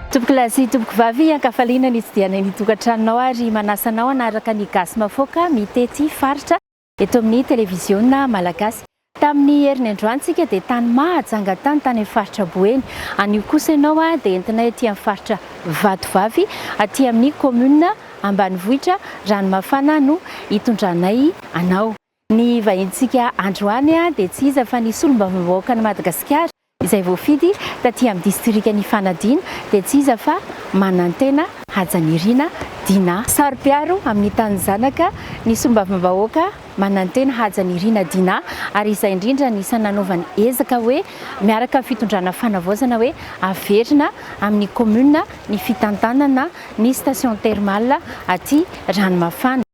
Tompokolahy sy tompokovavy, an-kafaliana ny hitsidihanay ny tokantranonao ary manasa anao hanaraka ny Gasy Mafoka mitety faritra. eto amin'ny televiziona malagasy. Tamin'ny heriny androany tsika dia tany mahajanga tany tany amin'ny faritra Boeny. Anio kosa ianao dia entinay aty amin'ny faritra Vatovavy, aty amin'ny commune ambanivohitra Ranomafana no hitondranay anao. Ny vahintsika androany dia tsy iza fa ny solombavambahoakan'i Madagasikara, Izay voafidy taty amin'ny distrikan' i Fanadina dia tsy iza fa Manantena Hajanirina Dinah. Saro-piaro amin'ny tanin'ny zanaka ny sombavambahoaka Manantena Hajanirina Dinah ary izay indrindra no isan'ny nanaovany ezaka hoe miaraka amin'ny fitondrana Fanavaozana hoe averina amin'ny kaominina ny fitantanana ny station thermale aty Ranomafana.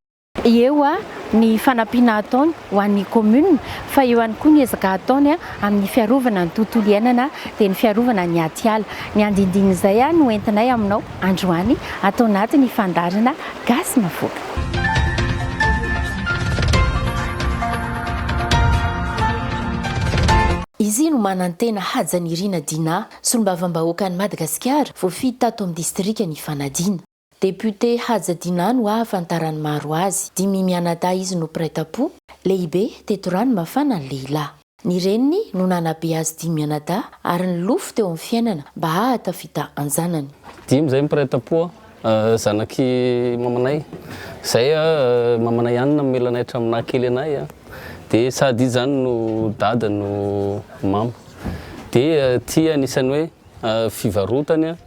Eo ny fanampiana ataony ho an'ny commune fa eo ihany koa ny ezaka ataony amin'ny fiarovana ny tontolo iainana dia ny fiarovana ny atiala. Ny andindinin'izay no entinay aminao androany ato anatin'ny fandaharana Gasy Navoaka. Izy no manantena Hajanirina Dinah, solombavambahoakan'i Madagasikara, voafidy tato amin'ny distrikan'i Fanadina. Député Haja Dinano ahafantaran'ny maro azy, dimy mianadahy izy no mpiray tam-po, lehibe teto Ranomafana ny lehilahy. Ny reniny no nanabe azy dimy mianadahy ary nilofo teo amin'ny fiainana mba hahatafita an-janany. Dimy izay mpiray tam-po zanak'i mamanay, izay mamanay ihany namela anay hatramin'ny naha kely anay dia sady izy izany no dada no mama dia ity anisan'ny hoe fivarotany.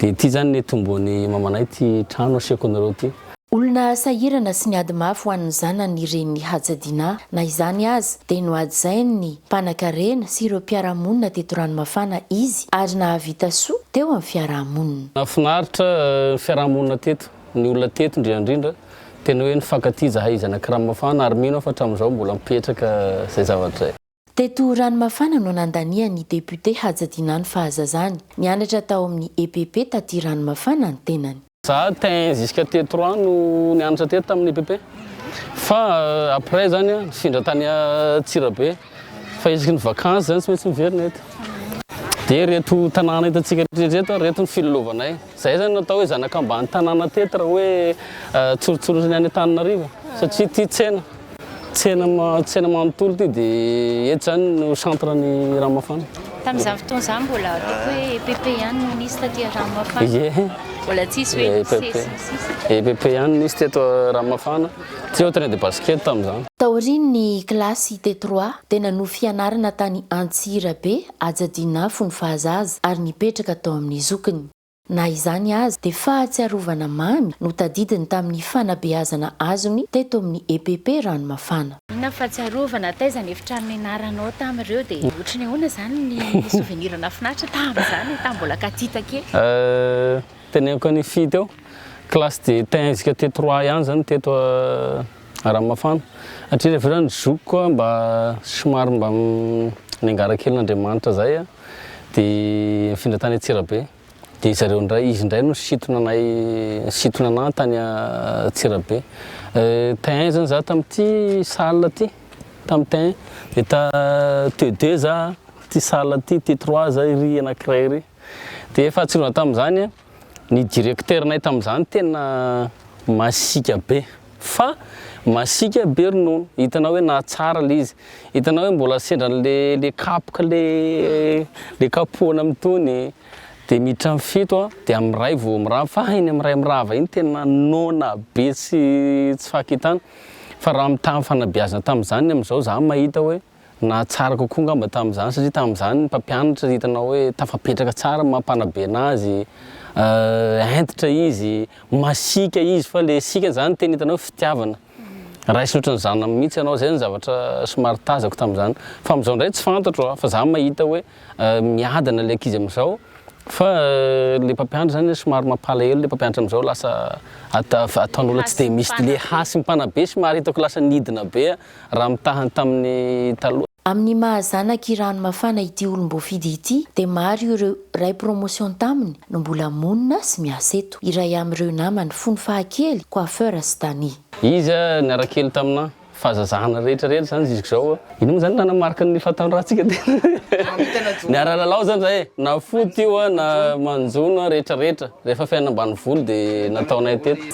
Dia ity izany nitomboan'i mamanay ity trano asehoko anareo ity. Olona sahirana sy niady mafy ho an'ny zanany ny renin'i Hajadina. Na izany aza, dia nohajain'ny mpanankarena sy ireo mpiara-monina teto Ranomafana izy ary nahavita soa teo amin'ny fiaraha-monina. Nahafinaritra ny fiaraha-monina teto. Ny olona teto indrindra indrindra, tena hoe nifankatia izahay zanak'i Ranomafana ary mino aho fa hatramin'izao mbola mipetraka izay zavatra izay. Teto Ranomafana no nandanian'ny député Hajadinah ny fahazazany. Nianatra tao amin'ny EPP taty Ranomafana ny tenany. Za tein jusqu'à teto rano no nianatra teto tamin'ny EPP fa après zany an nifindra tany Antsirabe fa isaky ny vacances zany tsy maintsy miverina eto. Dia ireto tanàna hitantsika rehetra ireto ary ireto ny filalaovanay. Zay zany natao hoe zanakambany tanàna teto raha hoe tsorotsorotry ny any Antananarivo satria ity tsena tsena tsena manontolo ity dia eto zany no centre ny rano mafana. Tamin'izany fotoana izany mbola ataoko hoe EPP ihany no nisy taty rano mafana. Ye. Mbola tsisy hoe EPP. sesy ny sisa. EPP ihany nisy teto rano mafana. Tsy eo terrain de basket tamin'izany. Taorian'ny kilasy T3 dia nanohy fianarana tany Antsirabe Aja Dinafo ny fahazaza ary nipetraka tao amin'ny zokiny. Na izany aza, dia fahatsiarovana mamy no tadidiny tamin'ny fanabeazana azony teto amin'ny EPP Ranomafana. Inona ny fahatsiarovana, taiza ny efitrano nianaranao tamin'ireo, dia ohatran'ny ahoana izany ny souvenir nahafinaritra tamin'izany, tamin'ny mbola katita kely? Teneniko an'i Fy teo, classe de tenzika T3 ihany izany teto. Ramafana. Hatrery ivelany ry zokiko a, mba somary mba niangara kely n'Andriamanitra zay a, de nifindra tany Antsirabe, de zareo ndray, izy ndray no nisintona anay, nisintona anah tany Antsirabe. Tin zany za tam'ty salle ty, tam tin, de ta T deux za, ty salle ty, T trois za iry anakiray iry, de fahatsiarovana tam'zany a. Ny directeur'nay tamin'izany tena masiaka be fa masiaka be ronono, hitanao hoe nahatsara le izy, hitanao hoe mbola sendra an'le le kapoka le le kapohana amin'itony de miditra am fito an de am ray vao mirava fa iny am ray mirava iny tena noana be tsy tsy fakitana fa raha mitaha fanabeazana tamin'izany ny am'zao za mahita hoe Nahatsara kokoa angamba tamin'izany satria tamin'izany ny mpampianatra hitanao hoe tafapetraka tsara ny maha mpanabe anazy, hentitra izy, masiaka izy fa ilay siaka izany tena hitanao hoe fitiavana, raisiny ohatran'ny zanany mihintsy ianao, izay no zavatra somary tazako tamin'izany, fa amin'izao indray tsy fantatro a, fa za mahita hoe miadana ilay ankizy amin'izao, fa ilay mpampianatra izany somary mampalahelo ilay mpampianatra amin'izao lasa ataon'olona tsy dia misy, ilay hasin'ny mpanabe somary hitako lasa nidina be a. Raha mitaha ny tamin'ny taloha. Amin'ny maha zanak'i Hirano Mafana ity olom-boafidy ity dia maro ireo Ray promotion taminy no mbola monina sy miasa eto. Iray amin'ireo namany fony fahakely, coiffeur sy Danny. Izy niara kely tamina fahazazana rehetra rehetra zany jusque zao a. Ino moa zany ilana marque ny fahatanorantsikka tena. Miara lalao zany zahay na foot io a na manjono a rehetra rehetra rehefa fiainana ambanivolo dia nataonay teto.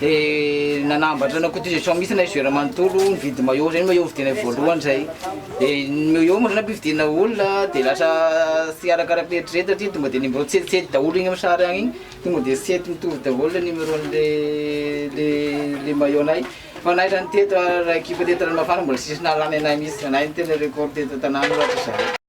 Dia nanambatra ny cotisation mihitsy ilay joueur manontolo nividy maillot, izay ny maillot vidiana voalohany izay. Dia ny maillot moa zany ampividiana olona dia lasa tsy arakaraky ny eritreritana satria tonga dia numéro tsy hetsihetsy daholo iny amin'ny sary any iny, tonga dia tsy hety mitovy daholo ilay numéron'ilay ilay maillot anay. Fa anay izany teto, ilay équipe teto Ranomafana mbola tsisy nahalany anay mihitsy, anay no tena record teto an-tanàna ohatra izao.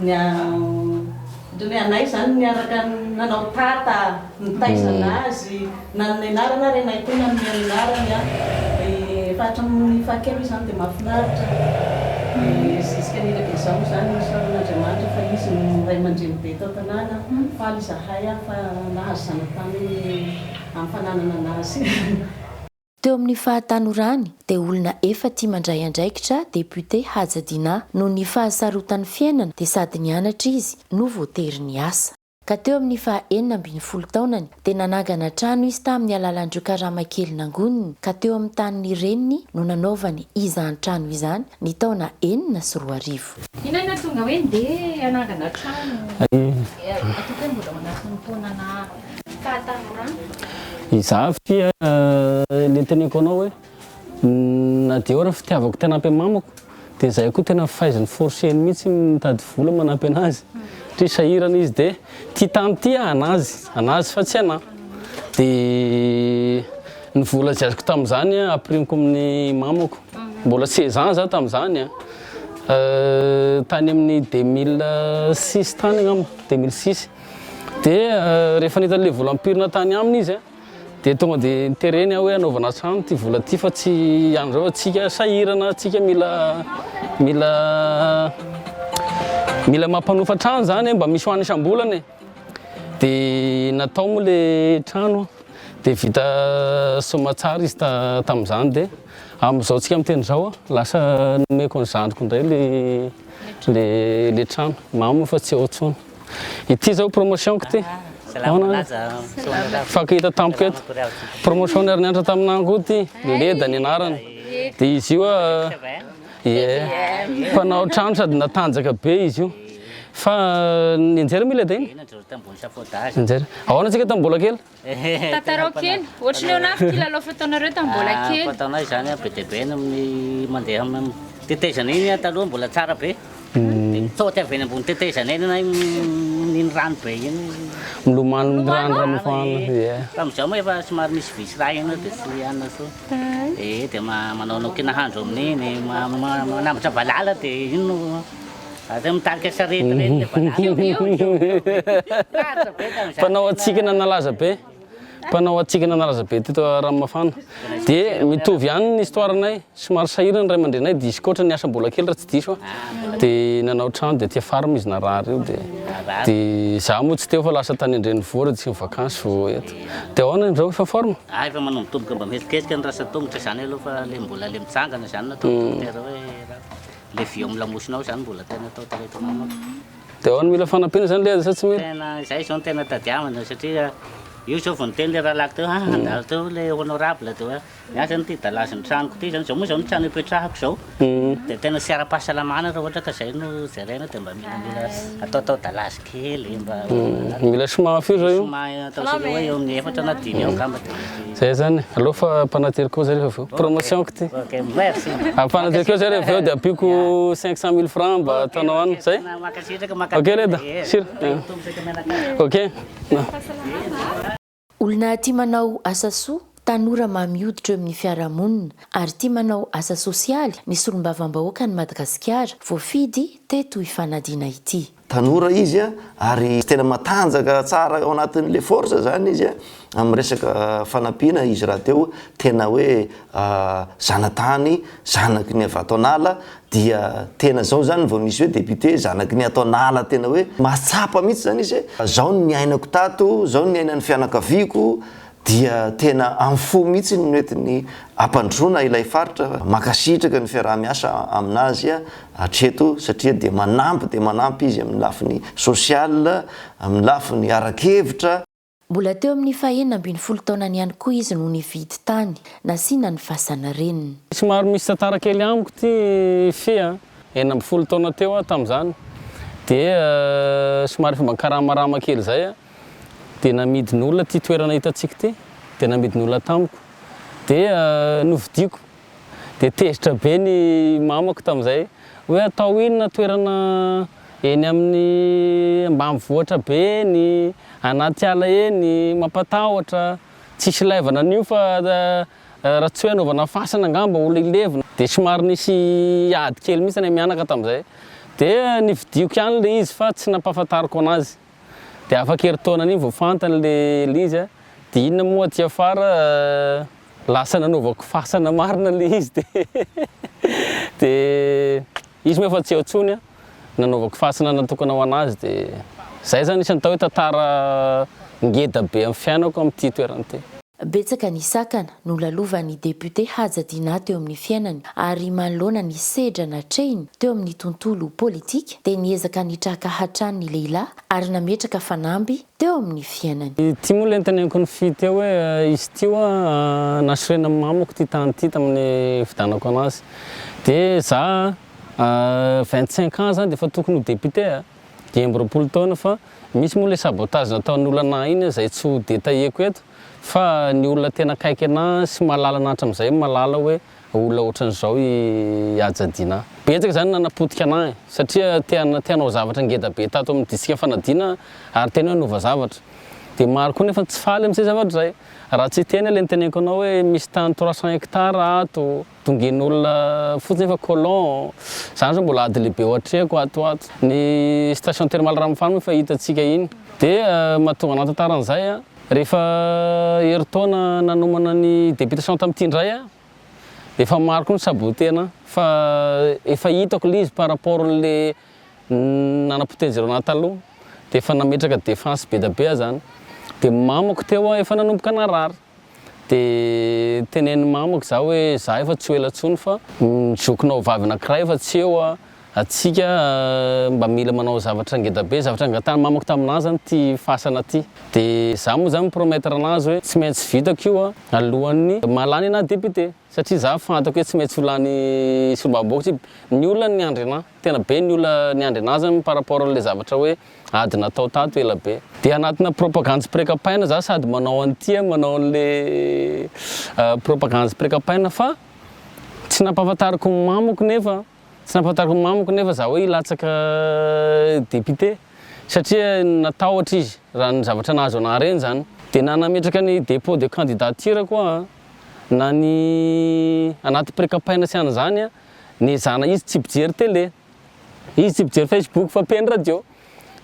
Niandry anay izany niaraka nanao tata nitaizana azy nanome anarana ary ianay koa nanome ny anarany an! efa hatramin'ny fahakely izany dia mahafinaritra dia zisika ny ela dia izao moa izany misaona an'Andriamanitra fa izy no ray aman-dreny be eto an-tanàna, faly izahay an! fa nahazo zanatany amin'ny fananana anazy. Teo amin'ny fahatanorany dia olona efa tia mandray andraikitra Député Haja Dinah. Noho ny fahasarotan'ny fiainana dia sady nianatra izy no voatery niasa. Ka teo amin'ny faha enina ambin'ny folo taonany dia nanangana trano izy tamin'ny alalan'ireo karama kely nangoniny ka teo amin'ny tanin'ny reniny no nanaovany izany trano izany ny taona enina sy roa arivo. Inona no nahatonga hoe ndeha hanangana trano? Ataoko hoe mbola ao anatin'ny taona na. Izaho fia le teneniko anao hoe na dia eo ary fitiavako tena ampy mamako dia izahay koa tena faiziny forceny mihitsy mitady vola manampy anazy satria sahirana izy dia tia tany ity ah anazy anazy fa tsy anah dia ny vola izay azoko tamin'izany ah apirimiko amin'ny mamako mbola seize ans za tamin'izany ah tany amin'ny deux mille six tany angamba deux mille six Dia rehefa nahita an'ilay vola ampirina tany aminy izy dia tonga dia nitereny aho hoe hanaovana trano ity vola ity fa tsy an'izao fa tsika sahirana, tsika mila mila mila mampanofa trano izany mba misy hoany isam-bolana e. Dia natao moa ilay trano dia vita soamantsara izy tamin'izany dia amin'izao tsika miteny izao lasa nomeko ny zandriko indray ilay ilay ilay trano, mamo fa tsy ao intsony. Ity zao promotion ko ty. Fako hita tampoka eto. Promotion ary niantra tamina angoa ity. Leda ny anarany. Dia izy io mpanao trano sady natanjaka be izy io. Fa nianjera mi leda iny? Nianjera. Ahoana tsika tamin'ny mbola kely? Tantarao kely, ohatry ny ahoana avy ity lalao fataonareo tamin'ny mbola kely? Ah, fataonay izany an, be dia be ny amin'ny mandeha amin'ny tetezana iny an, taloha mbola tsara be. Dia mitsaoty avy eny ambony tetezana eny ianay amin'iny rano be iny. Milomano ny rano raha mafana, ie. Tamin'izao moa efa somary misy vy sy rà eny dia tsy anona intsony. Ee, dia manaonao kiana hahandro amin'iny, manambatra valala dia iny no. Aza mitarika sarety reny le valala. Mpanao hatsikana nalaza be Mpanao hatsikana nalaza be teto Ranomafana. Dia mitovy ihany ny histoire-nay. Somary sahirana ny ray aman-dreninay dia izy koa ohatran'ny niasa mbola kely raha tsy diso aho. Dia nanao trano dia aty Farm izy narary io dia dia za moa tsy teo fa lasa tany an-drenivohitra tsy mi-vacances vao eto. Dia ahoana indreo efa forme? Ah efa manomboka tomoka mba mihetsiketsika ny rasa tongotra izany aloha fa le mbola le mitsangana izany no atao dokotera hoe. Le vy eo amin'ny lamosinao zany mbola tena atao tareto amako. De ahoana mila fanampiana zany le azy sa tsy mila? Tena zay zao no tena tadiavina satria io zao vao niteny le rahalahy teo ah handalo teo le honorable de hoe miasa ny ty dalazy ny tranoko ty zany zao moa zao ny trano ipetrahako zao de tena tsy ara-pahasalamana raha ohatra ka zay no jerena de mba milamila ataotao dalazy. kely mba mila soma fio zao io ataontsika hoe eo amin'ny efatra na dimy eo angamba dia mety zay zany aleo fa ampanatery koa zay rehefa avy promotion kity ok merci ampanatery koa zay rehefa avy eo dia ampiako 500 mille francs mba ataonao any zay mankasitraka mankasitraka ok leda sira ok Olona tia manao asa soa, tanora mamy hoditra eo amin'ny fiarahamonina ary tia manao asa sosialy ny solombavambahoakan'i Madagasikara voafidy teto Ifanadiana ity. Tanora izy ary tena matanjaka tsara ao anatin'ilay force zany izy amin'ny resaka fanampiana izy rahateo tena hoe zanatany zanaky ny avy ato an'ala Dia tena zao zany vao misy hoe député zanaky ny ato an'ala tena hoe mahatsapa mihitsy zany izy hoe zao ny niainako tato, zao ny niainan'ny fianakaviako, dia tena amin'ny fo mihitsy no nentiny hampandrosoana ilay faritra, mankasitraka ny fiaraha-miasa aminazy hatreto satria dia manampy dia manampy izy amin'ny lafiny social, amin'ny lafiny ara-kevitra. Mbola teo amin'ny fahenina ambin'ny folo taonany ihany koa izy no nividy tany nasiana ny fasan'ny reniny. Somary misy tantara kely amiko ity fy a! Enina ambin'ny folo taona teo aho tamin'izany dia somary efa mba nikaramarama kely izay aho dia namidin'olona ity toerana hitantsika ity dia namidin'olona tamiko dia novidiako. Dia tezitra be ny mamako tamin'izay hoe atao inona toerana eny amin'ny ambanivohitra be eny, anaty ala eny, mampatahotra, tsisy ilaivana an'io fa raha tsy hoe anaovana fasana angamba olona hilevina. Dia somary nisy ady kely mihitsy ny mianaka tamin'izay. Dia nividiako ihany ilay izy fa tsy nampahafantariko anazy. Dia afaka herintaona an'iny vao fantany ilay izy dia inona moa aty afara. Lasa nanaovako fasana marina ilay izy dia dia izy moa efa tsy eo intsony an, nanaovako fasana natokana ho an'azy dia izay izany isan'ny atao hoe tantara ngeda be amin'ny fiainako amin'ity toerana ity. Betsaka ny sakana nolalovan'ny député Haja Dinah teo amin'ny fiainany ary manoloana ny sedra natrehiny teo amin'ny tontolo politika dia niezaka nitraka hatrany ny lehilahy ary nametraka fanamby teo amin'ny fiainany. Ity moa ilay niteny ankin'ny fy teo hoe izy ity ho'a nasorenan'ny mamako ity tany ity tamin'ny nifidianako anazy dia za a vingt cinq ans zany dia efa tokony ho député a! dimy amby roapolo taona fa misy moa ilay sabotage nataon'olona anah iny a izay tsy ho détailleko eto fa ny olona tena akaiky anah sy mahalala anah hatramin'izay mahalala hoe olona otran'izao i Haja Dinah. Betsaka izany no nanapotika anah e! Satria te hanao zavatra ngeda be tato amin'ny disika fanadina aho ary tena hoe hanova zavatra. Dia maro koa nefa tsy faly amin'izay zavatra izay. Raha tsy hiteny aho ilay noteneniko anao hoe misy tany trois cents hectares ato, dongen'olona fotsiny nefa colons. Izany izao mbola ady lehibe ao an-trehako ato ho ato. Ny station thermale Ranomafaly moa efa hitantsika iny. Dia mahatonga anah tantara an'izay an! Rehefa herintaona nanomana ny deputation tamin'ity indray aho dia efa maro koa ny sabotena fa efa hitako ilay izy par rapport an'ilay nanapotehan'i Girona taloha dia efa nametraka defense be dia be aho izany dia mamako teo aho efa nanomboka narary dia tenenin'ny mamako izaho hoe izaho efa tsy ho ela intsony fa ny zokinao vavy anankiray efa tsy eo Antsika mba mila manao zavatra ngeda be, zavatra nangatahany mamako taminah zany ity fasana ity, de zah moa zany mi-promettre anazy hoe tsy maintsy vitako io alohan'ny maha lany anah député, satria zah fantako hoe tsy maintsy ho lany solombavambahoaka satria ny olona no niandry anah, tena be ny olona niandry anah zany par rapport an'le zavatra hoe ady natao tato ela be, de anatina propagandy sy pre-kampaina zah sady manao an'ity an manao an'le propagandy sy pre-kampaina fa tsy nampahafantariko ny mamako nefa Tsy nampahantako ny mamako nefa za hoe hilatsaka député satria natahotra izy raha ny zavatra nahazo anah reny zany. Dia na nametraka ny dépôt de candidature ko ah, na ny anaty pré-campaign sy an'izany ah, nezahana izy tsy mpijery télé, izy tsy mpijery facebook fa mpeno radio.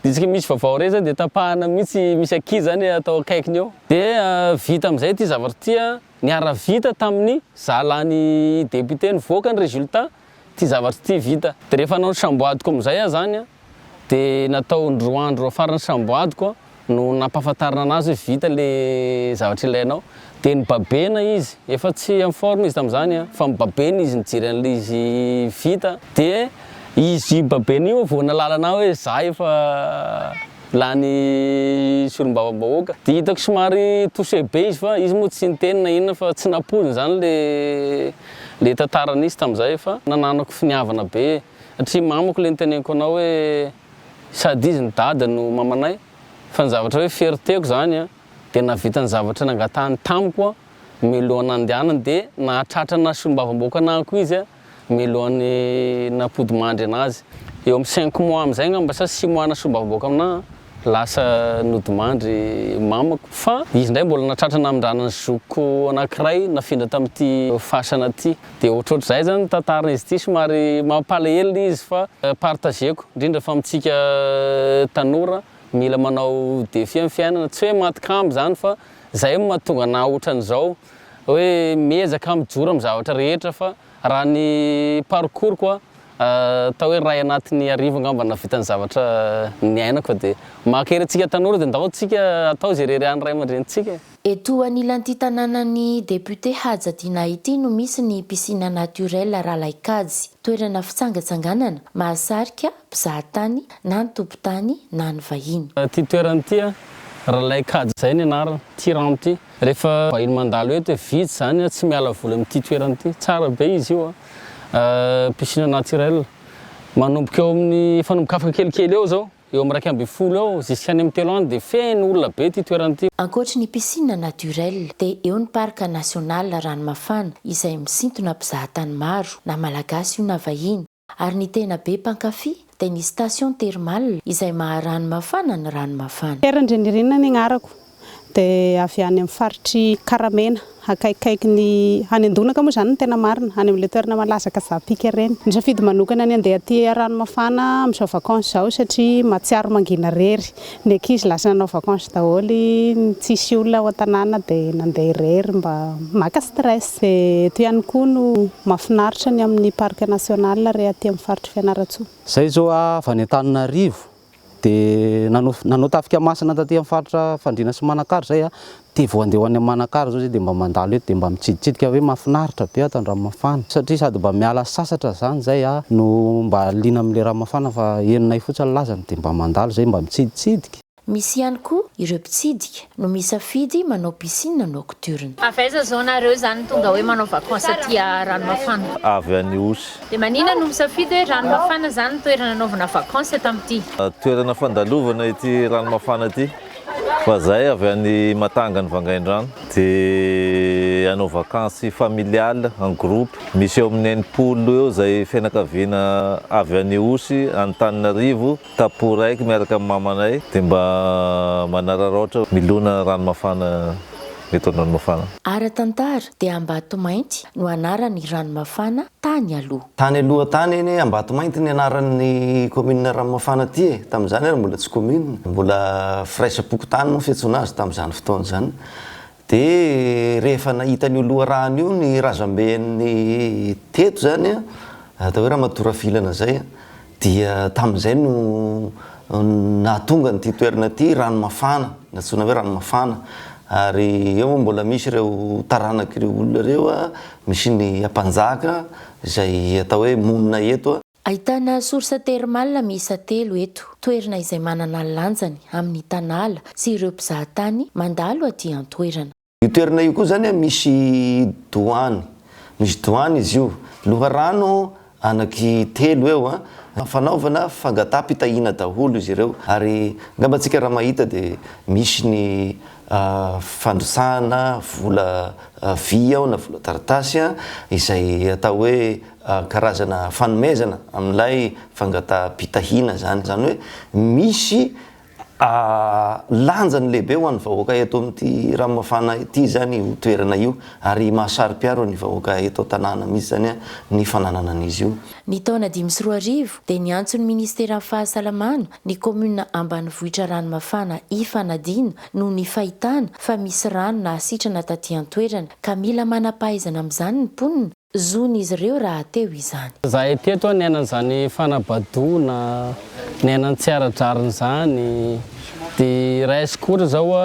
Dia isaka misy vaovao rey zany dia tapahana mihitsy misy ankizy zany atao akaikiny eo. Dia vita amizay ity zavatra ity ah, Niara-vita tamin'ny zalahan'ny député nivoaka ny résultat ity zavatra ity vita. Dia rehefa nanao ny samboadiko amin'izay aho izany an, dia natao indroa andro faran'ny samboadiko no nampahafantarina anazy hoe vita ilay zavatra ilainao. Dia nibabena izy, efa tsy en forme izy tamin'izany an, fa mibabena izy nijery an'ilay izy vita, dia izy babena io vao nalalana ahy hoe za efa. Lany solombavambahoaka. Dia hitako somary touché be izy fa izy moa tsy niteny na inona fa tsy nampoizina izany le le tantara nisy tamin'izay fa nananako finiavana be satria mamako le niteneniko anao hoe sady izy no dada no mamanay fa ny zavatra hoe fierté-ko izany an dia nahavita ny zavatra nangatahany tamiko miloha nandehanany dia nahatratra naha solombavambahoaka anahako izy an Mialohan'ny nampodimahandry anazy. Eo amin'ny cinq mois amin'izay angamba sa six mois nasombavam-boaka aminà lasa nodimandry mamako. Fa izy indray mbola nahatratra namindrana ny zokiko anankiray nafindra tamin'ity fasana ity. Dia ohatrohatr'izay izany ny tantaran'izy ity. Somary mampalahelo ilay izy fa partageko, indrindra fa amintsika tanora mila manao défi amin'ny fiainana. Tsy hoe maty kambo izany fa izay no mahatonga anà ohatran'izao. hoe miezaka aho mijoro amin'ny zavatra rehetra fa raha ny parcours ko atao hoe iray anatin'ny arivo angamba nahavita ny zavatra niainako dia mankahery antsika tanora dia ndao tsika atao izay irery an'ny ray aman-drenintsika e! Eto anilan'ity tanànan'ny député Haja Dinah ity no misy ny piscine naturelle Ralaikajy. Toerana fitsangatsanganana, mahasarika mpizahatany na ny tompon-tany na ny vahiny. Ity toerana ity, Ralaikajy izay ny anarany, ity rano ity. Rehefa vahiny mandalo eto hoe vitsy izany an, tsy miala voly amin'ity toerana ity. Tsara be izy io an, piscine naturel. Manomboka eo amin'ny, efa nombokafaka kelikely eo izao, eo amin'ny iraika ambin'ny folo eo zisk'any amin'ny telo any dia feno olona be ity toerana ity. Ankoatry ny piscine naturel dia eo ny parc national Ranomafana izay misintona mpizahatany maro na malagasy io na vahiny. Ary ny tena be mpankafy dia ny station thermal izay maha rano mafana ny rano mafana. Pierre Andrianirina ny agnarako, dia avy any amin'ny faritr'i Karamena, akaikikaikin'i, any Andonaka moa izany no tena marina, any amin'ilay toerana malaza Kazaha Peak ireny. Nisafidy manokana ny handeha aty Ranomafana amin'izao vacances izao satria mahatsiaro mangina rery. Ny ankizy lasa nanao vacances daholo iny tsisy olona ao an-tanàna dia nandeha irery mba maka stress. Dia eto ihany koa no mahafinaritra ny amin'ny parc national re aty amin'ny faritr'i Fianarantsoa. Zay zao aho avy any Antananarivo dia nanao tafika masina taty amin'ny faritra Fandriana sy Manakara zay aho Dia vao handeha ho any Manakara izao zay dia mba mandalo eto dia mba mitsiditsidika hoe mahafinaritra be ato Andranmafana satria sady mba miala sasatra izany zay a no mba liana amin'ilay Ranmafana fa henonay fotsiny lazany dia mba mandalo izay mba mitsiditsidika. Misy ihany koa ireo mpitsidika no misafidy manao piscine nocturne. Avy aiza zao nareo zany tonga hoe manao vacances aty a Ranomafana? Avy any Ihosy. Dia manina no misafidy hoe Ranomafana zany no toerana anaovana vacances eto amty. Toerana fandalovana ity Ranomafana ity. Fa zahay avy any Matangany Vangaindrano dia hanao vakansy familial en groupe misy eo amin'ny enimpolo eo izay fianakaviana avy any Ihosy Antananarivo tapo raiky miaraka amin'ny mamanay dia mba manararaotra milona rano mafana eto Andranomafana. Ara-tantara dia Ambatomainty no anaran'ny rano mafana tany aloha. Tany aloha tany anie Ambatomainty ny anaran'ny commune Ranomafana ity e! Tamin'izany ary mbola tsy commune, mbola firaisam-pokontany moa fiantsoana azy tamin'izany fotoana izany. Dia rehefa nahita an'io loharano io ny razamben'ny teto izany an, atao hoe Ramatoa Rafilana izay an, Dia tamin'izay no nahatonga an'ity toerana ity Ranomafana, nantsoina hoe Ranomafana. Ary eo moa mbola misy ireo taranak'ireo olona ireo, misy ny Ampanjaka izay atao hoe monina eto. Ahitana source thermale miisa telo eto, toerana izay manana ny lanjany amin'ny tanala sy ireo mpizahatany mandalo aty an-toerana. Io toerana io koa zany a misy doany, misy doany izy io, loharano anaky telo eo a, fanaovana fangataham-pitahiana daholo izy ireo ary angamba antsika raha mahita de misy ny fandrotsahana vola vy ao na vola taratasy a, izay atao hoe karazana fanomezana amin'ilay fangataham-pitahiana zany, zany hoe misy Lanjany lehibe ho an'ny vahoaka eto amin'ity Ranomafana ity izany io toerana io ary mahasaro-piaro ny vahoaka eto an-tanàna mihitsy izany ny fananana an'izy io. Ny taona dimy sy roa arivo dia niantso ny Ministeran'ny Fahasalamana ny kaominina ambanivohitra Ranomafana hifanadina noho ny fahitana fa misy rano nahasitrana taty an-toerana ka mila manam-pahaizana amin'izany ny mponina, Zon'izy ireo rahateo izany. Izahay teto niaina an'izany fanabadoana, niaina ny tsy ara-drariny izany. Dia iray secours izao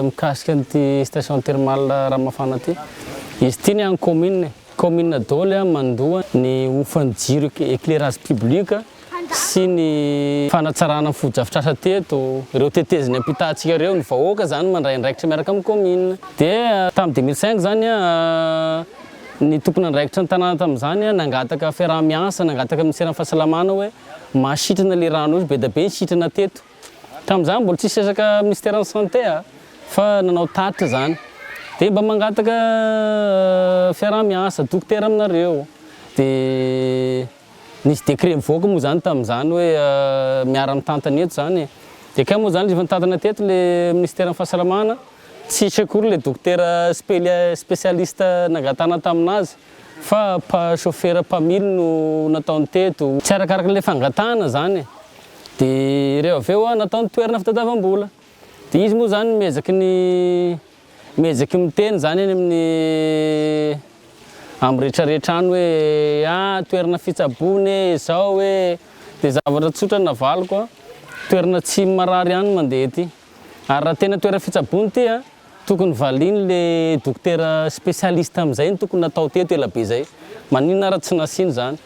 mikasika an'ity station thermale Ramafana ity. Izy ity ny an'ny commune, commune daholo mandoa ny hofan'ny jiro, éclairage public. sy ny fanatsarana ny fotodrafitrasa teto, ireo teteziny ampitantsika ireo, ny vahoaka izany mandray andraikitra miaraka amin'ny kaominina dia tamin'ny deux mille cinq izany ny tompon'andraikitra ny tanàna tamin'izany nangataka fiaraha-miasa, nangataka minisiteran'ny fahasalamana hoe mba sitrana ilay rano io, be dia be ny sitrana teto. Tamin'izany mbola tsisy resaka minisiteran'ny sante fa nanao tatitra izany dia mba mangataka fiaraha-miasa dokotera aminareo dia. Nisy décret nivoaka moa izany tamin'izany hoe miara mitantana eto izany e. Dia kay moa izany rehefa nitantana teto ilay minisiteran'ny fahasalamana, tsy hisy akory ilay dokotera spécialiste nangatahana tamin'azy fa chauffeur mpamily no nataony teto. Tsy arakaraka ilay fangatahana izany e. Dia ireo avy eo nataony toerana fitadiavam-bola. Dia izy moa izany miezaky ny Mihejeky miteny izany any amin'ny amin'ny retraretra any hoe ah toerana fitsaboana e, izao e, dia zavatra tsotra ny navaliko an, toerana tsy marary ihany ny mandeha ety, ary raha tena toerana fitsaboana ity an, tokony valiany le dokotera specialiste amin'izay no tokony natao teto ela be zay, maninona ary tsy nasiany izany,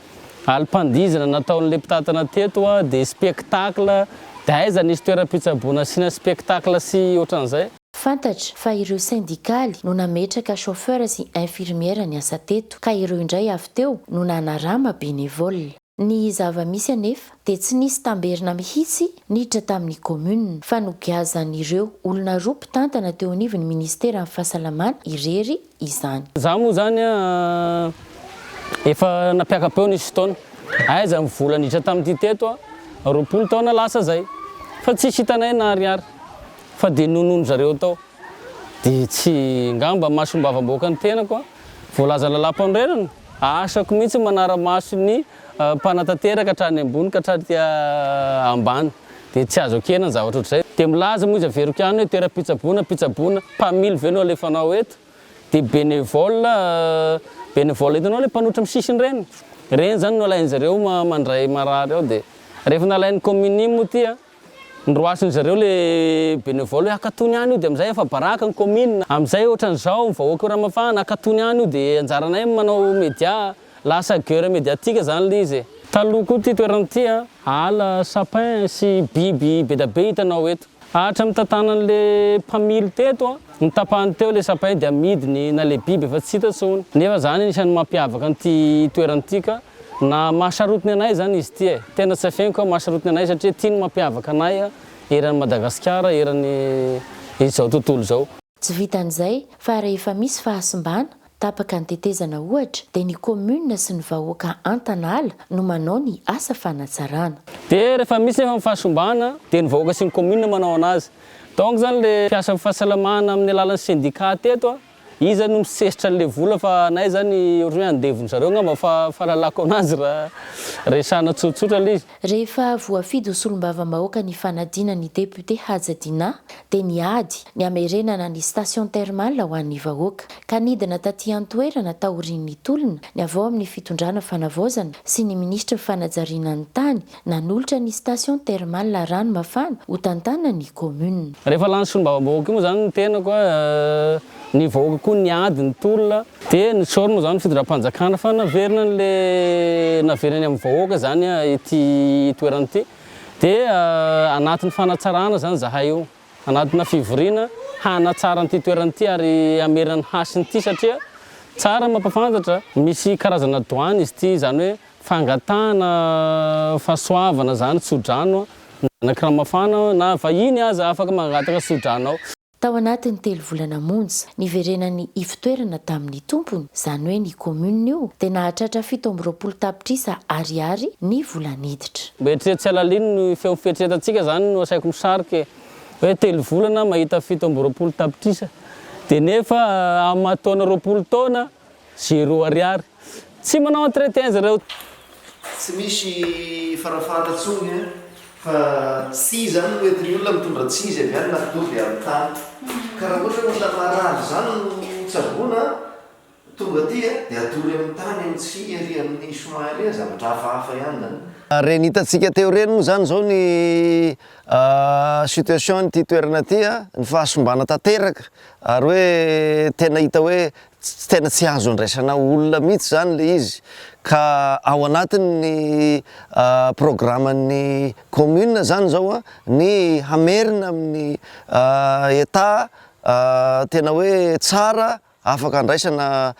alim-pandihizana nataon'ilay mpitantana teto an, dia spectacle, dia aiza nisy toeram-pitsaboana asiana spectacle sy ohatran'izay. Fantatra fa ireo sendikaly no nametraka chauffeur sy infirmière niasa teto ka ireo indray avy teo no nanarama bénévole. Ny zava-misy anefa dia tsy nisy tamberina mihitsy niditra tamin'ny commune fa nogiazan'ireo olona roa mpitantana teo anivon'ny ministeran'ny fahasalamana irery izany. Za moa zany a efa nampiaka-peo ny isan-taona, aiza ny vola niditra tamin'ity teto a roapolo taona lasa zay fa tsisy hitanay na ariary fa de nonoin-dry zareo tao de tsy ngamba masom-bavam-bahoaka ny tenako a voalaza lalam-panorenana, asako mihitsy manara-maso ny Mpanatanteraka hatrany ambony ka hatrany ambany dia tsy azo ekena ny zavatra ohatr'izay. Dia milaza moa izy avy eroky any hoe toeram-pitsaboana, mpitsaboana, mpamily ve no alefanao eto? Dia bénévole, bénévole hitanao ilay mpanotra amin'ny sisiny ireny? Ireny izany no alain'izy ireo mandray marary ao dia rehefa nalain'ny kaominia moa ity an! Noroasin'izy ireo ilay bénévole hoe akatony any io dia amin'izay efa baraka ny commune. Amin'izay ohatran'izao ny vahoaka eo Ramafahana akatony any io dia anjaranay ny manao media. Lasa guerre médiatique izany ilay izy e. Taloha koa ity toerana ity ala sapin sy biby bedabe hitanao eto. Hatramin'ny tantanan'ilay mpamily teto ny tapahany teo ilay sapin dia amidiny na ilay biby efa tsy hita intsony. Nefa izany anisan'ny mampiavaka an'ity toerana ity ka. Na mahasarotiny anay zany izy ty e! Tena tsy afeniko aho mahasarotiny anay satria ty ny mampiavaka anay eran'i Madagasikara eran'i izao tontolo izao. Tsy vitan'izay fa rehefa misy fahasimbana, tapaka ny tetezana ohatra dia ny commune sy ny vahoaka Antanala no manao ny asa fanatsarana. Dia rehefa misy nefa ny fahasimbana dia ny vahoaka sy ny commune manao anazy. Donc zany le mpiasa amin'ny fahasalamana amin'ny alalan'ny syndicat teto a! Iza no misesitra anle vola fa anay izany ohatran'ny hoe andevon zareo angamba fa fahalalako anazy raha resahana tsotsotra le izy. Rehefa voafidy ho solombavambahoaka ny fanadina ny député Haja Dinah dia niady ny hamerenana ny station thermale ho an'ny vahoaka, ka nidina taty an-toerana taorian'ny tolona ny avy ao amin'ny fitondrana fanavaozana sy ny minisitry ny fanajariana ny tany nanolotra ny station thermale rano mafana ho tantanan'ny commune. Rehefa lany solombavambahoaka io moa izany ny tenako a, ny vahoaka koa niady ny tolona dia nitsaorina moa izany ny fitondram-panjakana fa naverina an'le naverina any amin'ny vahoaka izany ity toerana ity dia anatin'ny fanatsarana izany izahay io, anatina fivoriana hanatsara an'ity toerana ity ary hamerina ny hasin'ity satria tsara ny mampafantatra misy karazana douane izy ity izany hoe Fangatahana fahasoavana zany tsodrano an! Ny zanaky Ramafana na vahiny aza afaka mangataka sodrano ao. Tao anatin'ny telo volana monja niverenany ivotoerana tamin'ny tompony, izany hoe ny commune io dia nahatratra fito amby roapolo tapitrisa Ariary ny vola niditra. Mba eritrereto tsy halalino ny feo fieritreretantsika zany no asaiko misarika e! Hoe telo volana mahita fito amby roapolo tapitrisa dia nefa amin'ny maha taona roapolo taona Zero ariary. Tsy manao entretien zareo. Tsy misy fanafahana tsony an! Fa tsy izany no entin'ny olona mitondra tsizy avy any na dobo avy any tany. Ka raha ohatra hoe olona marary izany no tsaboina an! Tonga aty an! Dia atory amin'ny tany, amin'ny tsihy ery amin'ny soin ery an! Zavatra hafahafa ihany izany. Ireny hitantsika teo ireny moa izany izao ny situation an'ity toerana ity an! Ny fahasimbana tanteraka Ary hoe tena hita hoe tsy tena tsy azo andraisana olona mihitsy izany ilay izy ka ao anatin'ny programan'ny commune izany izao ny hamerina amin'ny etat tena hoe tsara afaka andraisana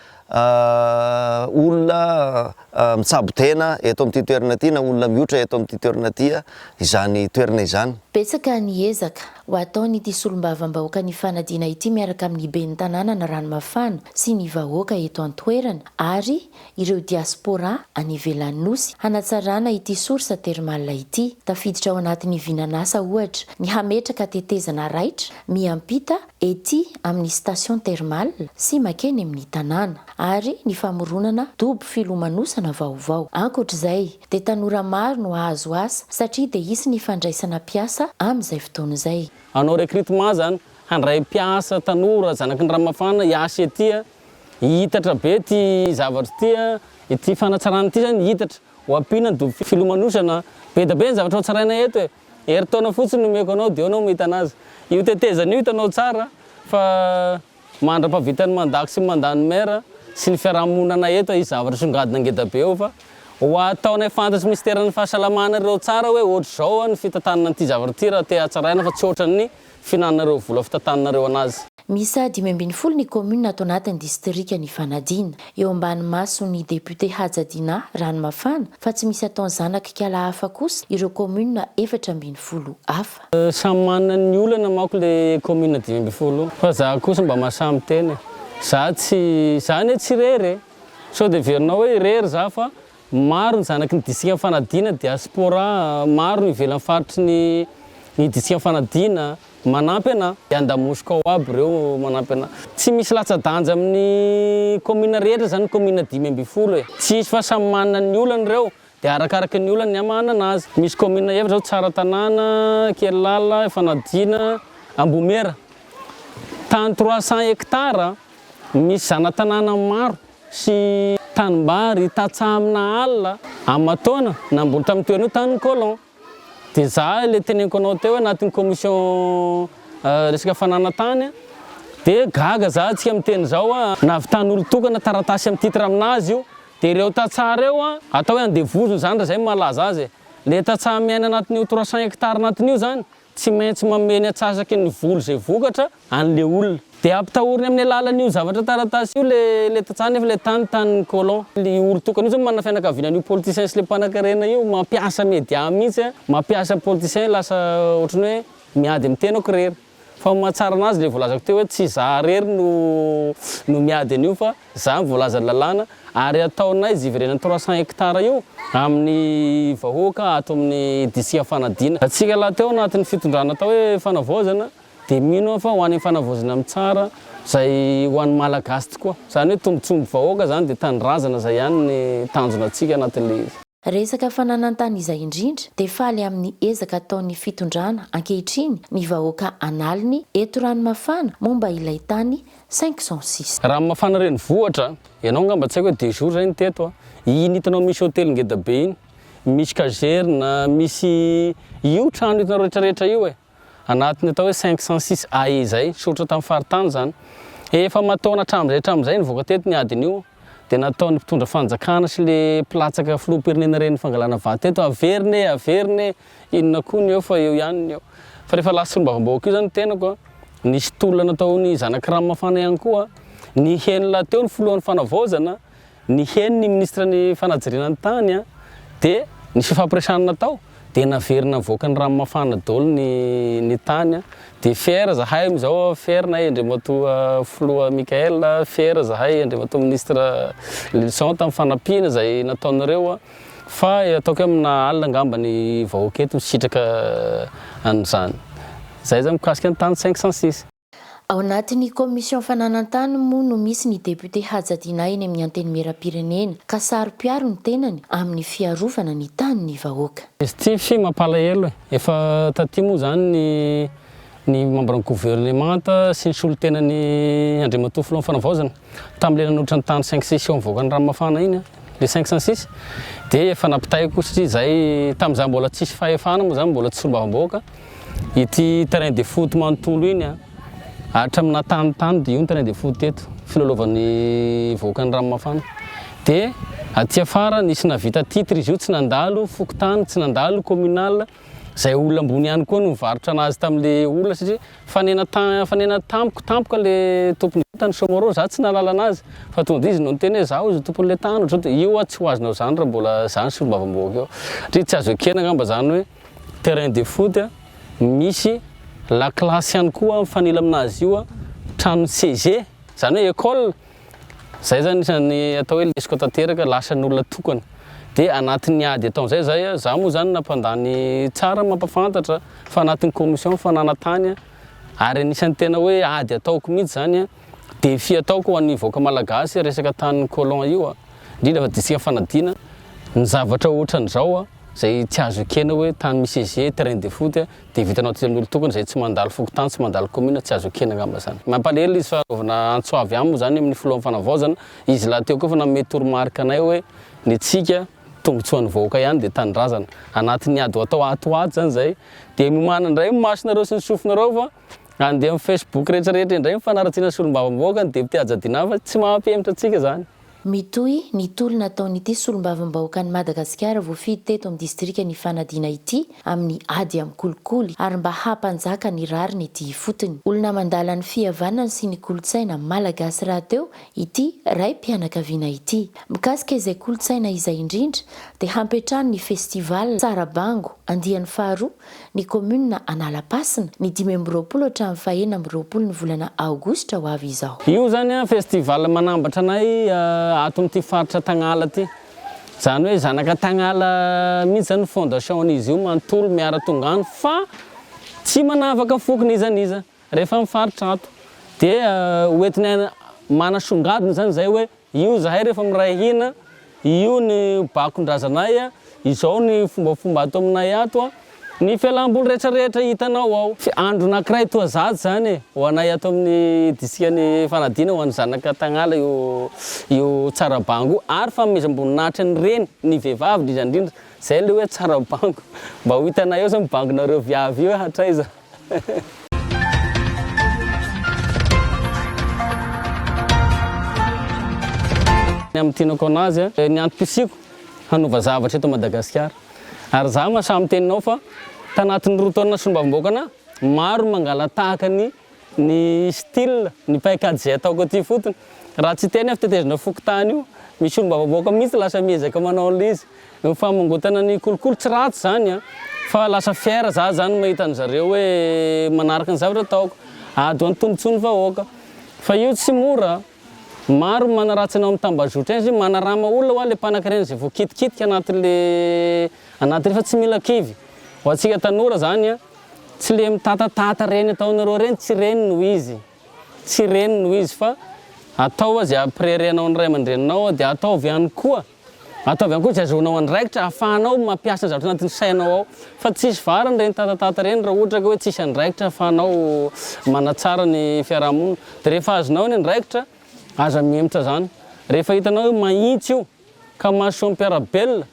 olona mitsabo tena eto amin'ity toerana ity na olona miotra eto amin'ity toerana ity izany toerana izany. Betsaka ny ezaka ho ataon'ity solombavambahoaka ny fanadiana ity miaraka amin'ny ben'ny tanàna ny Ranomafana sy ny vahoaka eto an-toerana ary ireo diaspora any ivelan'ny Nosy hanatsarana ity source thermale ity. Tafiditra ao anatin'ny vinan'asa ohatra ny hametraka tetezana raitra miampita ety amin'ny station thermale sy makeny amin'ny tanàna, ary ny famoronana dobo filomanosana vaovao. Ankoatra izay, dia tanora maro no hahazo asa satria dia hisy ny fandraisana mpiasa amin'izay fotoana izay. Hanao recrutement zany, handray mpiasa tanora zanaky ny Ramafana hiasa ety a, hihitatra be ity zavatra ity a, ity fanatsarana ity zany hihitatra, ho ampiana ny dobo filomanosana, be dia be ny zavatra hotsaraina eto e! Herintaona fotsiny nomeko anao dia eo anao mahita anazy. Io tetezana io hitanao tsara fa mandra-pavitan'ny mandat-ko sy mandat ny maire sy ny fiarahamonina eto hisy zavatra songadina ngeda be eo fa ho ataonay fantatry minisiteran'ny fahasalamana ireo tsara hoe ohatr'izao ny fitantanana an'ity zavatra ity raha te hatsaraina fa tsy ohatran'ny Fihinananareo vola fitantananareo anazy. Miisa dimy ambin'ny folo ny kaominina ato anatin'ny distrika nifanadiana. Eo ambany mason'ny depiote Haja Dinah Ranomafana fa tsy misy ataon'ny zanak'ikala hafa kosa ireo kaominina efatra ambin'ny folo hafa. Samy manana ny olana manko le kaominina dimy ambin'ny folo fa za kosa mba mahasahy miteny e! Za tsy, za anie tsy irery e! Sao de heverinao hoe irery za fa Maro ny zanaky ny distrikan'i Fanadina, diaspora, maro no ivelan'ny faritry ny ny distrikan'i Fanadina, manampy anà. Dia andamosiko ao aby ireo manampy anà. Tsy misy latsa-danja amin'ny kaominina rehetra izany ny kaominina dimy ambin'ny folo e. Tsy hisy fa samy manana ny olany ireo, dia arakaraky ny olany ny hamahanana azy. Misy kaominina efatra izao, Tsaratanàna, Ankerilala, Fanadina, Ambohimera. Tany trois cents hectares, misy zana-tanàna maro. sy tanimbary hitatsaha amina alina amatoana namboly tamin'ny toerana io tany ny colon dia izaho ilay teneniko anao teo hoe anatin'ny commission resaka fananantany dia gaga izaho antsika miteny izao hoe nahavitan'ny olon-tokana taratasy amin'ny titre aminazy io dia ireo tantsaha ireo atao hoe andevozina izany raha izay no mahalaza azy e, ilay tantsaha miaina anatin'io trois cent hectares anatin'io izany Tsy maintsy manome ny atsasaky ny vola izay vokatra an'ilay olona. Dia hampitahoriny amin'ny alalan'io zavatra taratasy io ilay ilay tantsaha nefa ilay tany tanin'ny colon. Io olon-tokana io izao manana fianakaviana an'io politicien sy ilay mpanankarena io. Mampiasa media mihitsy an. Mampiasa politicien lasa ohatran'ny hoe miady amin'ny tenako irery. Fa ny mahatsara anazy ilay voalazako teo hoe tsy izaho irery no no miady an'io fa Izany ny voalazan'ny lalàna ary ataonay zivirenan'ny trois cents hectares io amin'ny vahoaka ato amin'ny District Anfanadina. Antsika lahy teo anatin'ny fitondrana atao hoe Fanavaozana dia mino aho fa ho any Fanavaozana mitsara izay ho an'ny Malagasy tokoa. Izany hoe tombotsoan'ny vahoaka izany dia tanindrazana izay ihany ny tanjona antsika anatin'ilay izy. Resaka fananan-tany izay indrindra dia faly amin'ny ezaka ataon'ny fitondrana ankehitriny ny vahoaka an'aliny eto Ranomafana momba ilay tany cinq cent six. Ranomafana renivohitra, ianao angamba tsy haiko hoe deux jours zay ny teto a, iny hitanao misy hotely ngeda be iny, misy kazerina, misy io trano hitanao retraretra io e. anatin'ny atao hoe cinq cent six AE izay, soritra tamin'ny faritany izany. Efa aman-taona hatramin'izay hatramin'izay nivoaka teto ny adiny io dia nataon'ny mpitondra fanjakana sy le mpilatsaka filoham-pirenena ireny fangalana vato teto, averina e, averina e, inona koa ny eo fa eo ihany ny eo. Fa rehefa lasa solombavambahoaka io izany ny tenako, nisy tolona nataon'ny zanak'i Ranomafana ihany koa, niheno lahateo ny filohan'ny fanavaozana, Ny henon'ny minisitry ny fanajriana ny tany dia ny fifampiresahana natao dia naverina nivoaka ny rano mafana daholo ny ny tany dia fier zahay amin'izao fier nahay Andriamatoa filoha Michael fier zahay Andriamatoa minisitra Lylison tamin'ny fanampiana izay nataonareo fa ataoko hoe amina alina angamba ny vahoaka eto misitraka an'izany. Izay zany mikasika ny tany cinq cent six. Ao anatin'ny Commission Fananan-tany moa no misy ny député hajadiana eny amin'ny Antenimieram-pirenena ka saro-piaro ny tenany amin'ny fiarovana ny tanin'ny vahoaka. Izy ity fy mampalahelo e! Efa taty moa izany ny ny membran'ny governemanta sy ny solontenan'ny Andriamatoa Filohan'ny Fanavaozana. Tamin'ilay nanolotra ny tany cinq six eo amin'ny vahoakan'i Ranomafana iny ilay cinq cent six dia efa nampitaiko satria izahay tamin'izaho mbola tsisy fahefana moa izany mbola tsy solombavambahoaka ity terrain de foot manontolo iny an hatramin'ny nahatany tany dia io ny terrain de foot teto filalaovan'ny vahoakan'i Ranomafana dia aty afara nisy navita titre izy io tsy nandalo fokontany tsy nandalo communal izay olona ambony ihany koa no nivarotra an'azy tamin'ilay olona satria Fanena fanena tampoka tampoka le tompony vintany somorro za tsy nahalala anazy fa tonga de izy no niteny hoe za ozy tompony le tany otrany de io a tsy ho azonao zany ra mbola zany solombavambohaka io satria tsy azo ekena ngamba zany hoe terrain de foot a misy la classe ihany koa mifanila aminazy io a tranony CG zany hoe école Zay zany isan'ny atao hoe lesoka tanteraka, lasa ny olona tokana. Dia anatin'ny ady ataon'izay zay, za moa zany nampandany tsara mampafantatra fa anatin'ny commission fananantany ary anisan'ny tena hoe ady ataoko mihitsy zany, défi ataoko ho an'ny vahoaka malagasy resaka tanin'ny colon io, indrindra fa distrikan'i Fanadina, ny zavatra ohatran'izao izay tsy azo ekena hoe tany misy ezier, terrain de foot, Dia vitanao aty an'olon-tokana izay tsy mandalo fokontany, tsy mandalo commune, tsy azo ekena angamba izany. Mampalahelo ilay izy fa anaovana antso avy aminy izany amin'ny filohan'ny fanavaozana. Izy lahy teo koa efa nanome toromarika anay hoe ny antsika tombotsoan'ny vahoaka ihany dia tanindrazana. Anatin'ny ady ho atao ato ho ato izany izay. Dia miomana indray ny masonareo sy ny sofinareo fa handeha amin'ny facebook rehetra rehetra indray ny fanaratsiana ny solombavambahoaka ny député Haja Dinah fa tsy mahampihemotra antsika izany. Mitohy ny tolona ataon'ity solombavambahoakan'i Madagasikara voafidy teto amin'ny distrikan' Ifanadiana ity amin'ny ady amin'ny kolikoly ary mba hampanjaka ny rariny ity ifotony. Olona mandala ny fihavanana sy ny kolontsaina malagasy rahateo ity raim-pianakaviana ity. Mikasika izay kolontsaina izay indrindra dia hampiantrano ny festival Sarabango andiany faharoa ny kaominina Analapasina, ny dimy amby roapolo hatramin'ny fahenina amby roapolo ny volana aogositra ho avy izao. Io zany an festival manambatra anay ato amin'ity faritra Tagnala ity. Zany hoe zanaka Tagnala mihitsy zany fondation an'izy io manontolo miara tonga any fa tsy manavaka foko n'iza n'iza rehefa mifaritra ato. Dia hoentinay manasongadina zany zay hoe Io zahay rehefa miray hina, io ny bakon-drazanay, izao ny fombafomba ato aminay ato, ny fialam-boly rehetrarehetra hitanao ao. Tsy andro anankiray toa zato izany e! Ho anay ato amin'ny disitrikan'i Fanadina, ho an'ny zanaka tagnala io io tsara bango io, ary fanomezam-boninahitra ny reny, ny vehivavy indrindra indrindra, izay ilay hoe tsara bango, mba ho hitanay ao izao ny bangonareo viavy io hatraiza. Hehe. Ny amin'ny tenako an'azy a, ny antom-pisiako hanova zavatra eto Madagasikara. Ary za mahasahy miteny anao fa tanatin'ny roa taona solombavambahoaka anah, maro ny mangala-tahaka ny ny style, ny paikady izay ataoko aty ifotony. Raha tsy hiteny aho fa tetezana fokontany io, misy solombavambahoaka mihitsy lasa miezaka manao an'ilay izy. Ny famongotana ny kolikoly tsy ratsy zany an! Fa lasa fier za zany mahita an zareo hoe manaraka ny zavatra ataoko. Ady ho an tombotsoan'ny vahoaka. Fa io tsy mora an! Maro ny manaratsy anao am tambazotra eny, manarama olona hoa le mpanaky reny zay voakitikitika anaty le anaty reny fa tsy mila kivy. Ho antsika tanora zany an! Tsy le mitatatata reny ataonareo reny tsy reny no izy. Tsy reny no izy fa ataova zay ampirerenao ny ray aman-dreninao dia ataovy ihany koa. Ataovy ihany koa izay azonao andraikitra ahafahanao mampiasa zavatra anatin'ny sainao ao. Fa tsy hisy variny ireny tatatata ireny raha ohatra ka hoe tsisy andraikitra ahafahanao manatsara ny fiaraha-monina. Dia rehefa azonao ny andraikitra, aza mihemotra izany. Rehefa hitanao hoe mahitsy io ka mahasoa ny mpiara-belona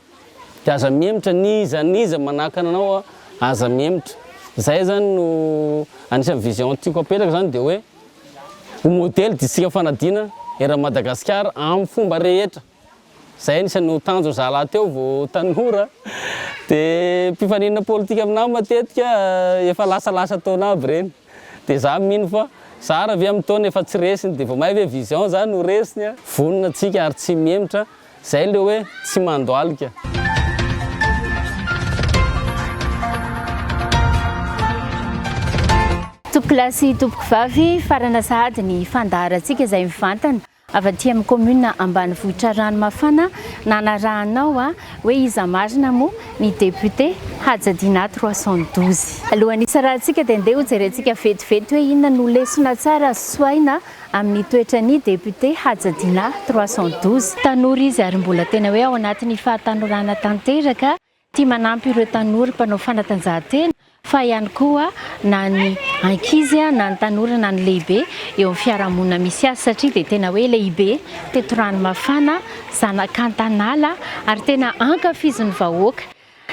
dia aza mihemotra, n'iza n'iza manakana anao aza mihemotra. Izay izany no anisan'ny vision tiako apetraka izany dia hoe. Ho modely distrika fanadina eran'i Madagasikara amin'ny fomba rehetra. Izay anisan'ny ho tanjon'ny zalahy teo vao tanora. Dia mpifaninana politika aminà matetika efa lasalasa taona aby ireny. Dia izaho mino fa zara ve amin'ny taona efa tsy resiny dia vao may ve vision izany no resiny? Vonona tsika ary tsy mihemotra Zay le hoe tsy mandohalika. Tompokolahy sy tompokovavy, farana sahady ny fandaharantsika izay mivantana avy aty amin'ny commune ambanivohitra Ranomafana nanarahanao hoe iza marina moa ny député hajadiana trois cent douze. Alohan'ny hisarahantsika dia ndeha hojerentsika vetivety hoe inona no lesona tsara azo tsoahina amin'ny toetran'ny député Haja Dinah trois cent douze. Tanora izy ary mbola tena hoe ao anatin'ny fahatanorana tanteraka, tia manampy ireo tanora mpanao fanatanjahantena fa ihany koa na ny ankizy na ny tanora na ny lehibe eo amin'ny fiarahamonina misy azy satria dia tena hoe lehibe teto Ranomafana, zanak'Antanala ary tena ankafizin'ny vahoaka.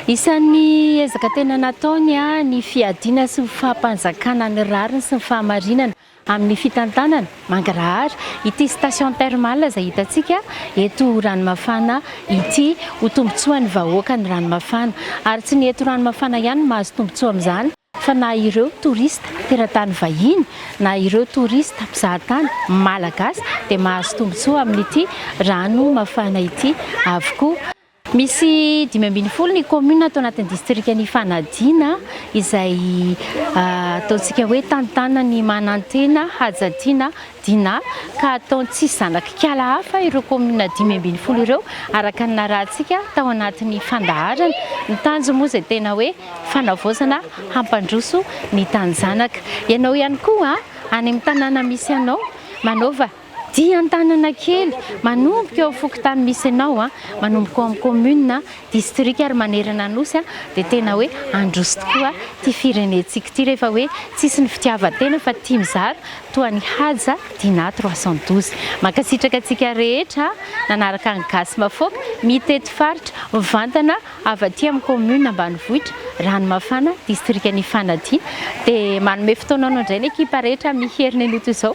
Isan'ny ezaka tena nataony ny fiadiana sy ny fahampanjakana ny rariny sy ny fahamarinana amin'ny fitantanana mangarahara ity station thermale izay hitantsika eto Ranomafana ity. Ho tombontsoan'ny vahoaka ny Ranomafana ary tsy ny eto Ranomafana ihany no mahazo tombontsoa amin'izany fa na ireo touriste teratany vahiny na ireo touriste mpizahatany malagasy dia mahazo tombontsoa amin'ity rano mafana ity avokoa. Misy dimy ambin'ny folo ny kaominina ato anatin'ny distrikan' Ifanadiana izay ataontsika hoe tantanan'ny Manantena, Hajatiana, Dina ka ataony tsisy zanak'ikala hafa ireo kaominina dimy ambin'ny folo ireo araka ny narahantsika tao anatin'ny fandaharana. Ny tanjony moa izay tena hoe fanavaozana hampandroso ny taninjanaka. Ianao ihany koa any amin'ny tanàna misy anao manaova. Dia Antananakely, manomboka eo amin'ny fokontany misy anao, manomboka ao amin'ny commune, distrika ary manerana Anosy dia tena hoe handroso tokoa ity firenentsika ity rehefa hoe tsisy ny fitiavan-tena fa tia mizara toa an'i Haja Dinah trois cent douze. Mankasitraka antsika rehetra nanaraka ny Gasy Mafoaka mitety faritra mivantana avy aty amin'ny commune ambanivohitra Ranomafana, distrikan'i Fanadina. Dia manome fotoana anao indray ny ekipa rehetra amin'ny herin'ny anio toy izao.